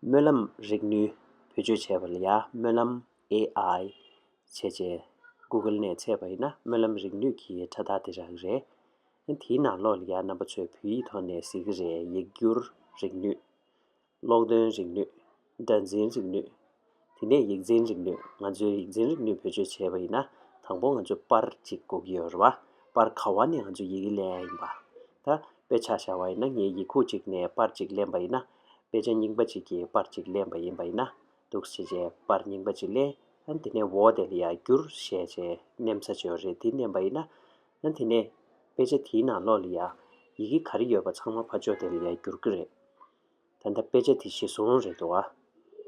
སྨོན་ལམ་རིག་ནུས་བེད་སྤྱོད་བྱས་པ་ལ་ཡང་སྨོན་ལམ AI། བྱས་རྗེས Google ནས་ཚད་པ་ཡིན་ན་སྨོན་ལམ་རིག་ནུས་ཀྱི་ཕྲ་རྟགས་དེ་རང་རེད། དེའི་ནང་ལོགས་ལ་ཡང་རྣམ་པ་ཚོས་བོད་ཡིག་ཐོག་ནས་གཟིགས་ཀྱི་རེད་ཡིག་སྒྱུར་རིག་ནུས། ཀློག་འདོན་རིག་ནུས། སྒྲ་འཛིན་རིག་ནུས། དེ་ནས་ཡིག་འཛིན་རིག་ནུས་ང་ཚོའི་ཡིག་འཛིན་རིག་ནུས་བེད་སྤྱོད་བྱས་པ་ཡིན་ན་དང་པོ་ང་ཚོ་པར་གཅིག་བསྒུག་གི་ཡོད་རེད་བ། པར་ག་བ་ནས་ང་ཚོ་ཡིག་ལེན་ཡ་ཡིན་པ། ད་དཔེ་ཆ་བཞག་བ་ཡིན་ན་ངས་ཡིག་ཁུག་གཅིག་ནས་པར་གཅིག་ལེན་པ་ཡིན་ན། དཔེ་ཆ་རྙིང་པ་གཅིག་གིས་པར་གཅིག་ལེན་པ་ཡིན་པ་ཡིན་ན། འདུག་བྱས་རྗེས་པར་རྙིང་པ་གཅིག་ལེན། དེ་ནས་འོ་དེ་ལ་ཡར་བསྒྱུར་བྱས་རྗེས་བསྣན་ས་ཅི་ཡོད་རེད་དེ་བསྣན་པ་ཡིན་ན། དེ་ནས་དཔེ་ཆ་དེའི་ནང་ལོགས་ལ་ཡང་ཡི་གེ་ག་རེ་ཡོད་པ་ཚང་མ་ཕར་འཇོག་དེ་ལ་ཡར་བསྒྱུར་གི་རེད། ད་ལྟ་དཔེ་ཆ་དེ་ཞེ་བཟུང་རེད་འདུག་ཨ།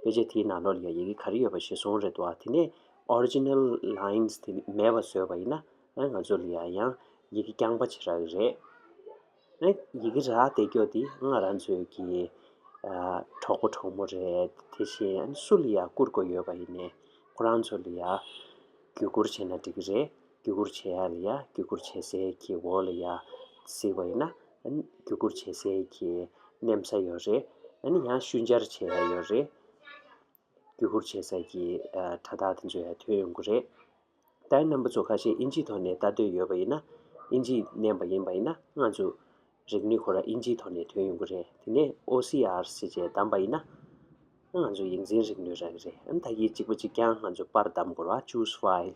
དཔེ་ཆ་དེའི་ནང་ལོགས་ལ་ཡང་ཡི་གེ་ག་རེ་ཡོད་པ་ཞེ་བཟུང་རེད་འདུག་ཨ་དེ་ནས Original Lines དེ་མེད་པ་བཟོས་པ་ཡིན་ན་ང་ཚོ་ལ་ཡང་ཡང་ཡི་གེ་རྐྱང་པ་བྱེད་རག་གི་རེད། ཨ། ཡི་གེ་རག་བསྡད་འགྱོ་འདི་ང་རང་ཚོའི་གི་གྲོགས་པོ་གྲོགས་མོ་རེད་དེ་བཞིན་ཨ་སུ་ལ་ཡང་བསྐུར་དགོས་ཡོད་པ་ཡིན་ནས་ཁོ་རང་ཚོ་ལ་ཡང་བརྒྱུད་བསྐུར་བྱས་ན་འགྲིག་གི་རེད། རྒྱུ་སྐུར་བྱེད་ཡ་ལ་ཡ་རྒྱུ་སྐུར་བྱེད་སའི་གི་འོག་ལ་ཡ་གཟིགས་པ་ཡིན་ན། རྒྱུ་སྐུར་བྱེད་སའི་གི་གནམ་ས་ཡོད་རེད། ཡང་ཤུལ་འབྱར་བྱེད་ཡ་ཡོད་རེད། རྒྱུ་སྐུར་བྱེད་ས་གི་དྲ་ཐག་དེ་འཇོག་ཡ་ཐོན་ཡོང་གི་རེད། ད་ཡིན་ནམ་བུ་ཚོ་ཁ་ཤས་ཨིན་ཇིའི་ཐོག་ནས་ལྟ་འདོད་ཡོད་པ་ཡིན་ན། ཨིན་ཇི་མནན་པ་ཡིན་པ་ཡིན་ན་ང་ཚོ་རིག་ནུས་ཁོ་ར་ཨིན་ཇིའི་ཐོག་ནས་ཐོན་ཡོང་གི་རེད་དེ་ནས OCR སི་ཅེས་བདམས་པ་ཡིན་ན། ང་ཚོ་ཡིག་འཛིན་རིག་ནུས་རག་གི་རེད་ད་གི་གཅིག་པ་གཅིག་རྐྱང་ང་ཚོ་པར་བདམས་དགོས་ར choose file།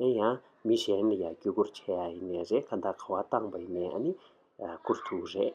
ཡིན་ཡང་མི་གཞན་ལ་ཡང་བརྒྱུད་སྐུར་བྱས་ཡ་ཡིན་ནས་རེད་ཁ་མདའ་ཁ་བ་བཏང་བ་ཡིན་ནས་ཨ་ནི། ཁུར་ཐུག་རེད།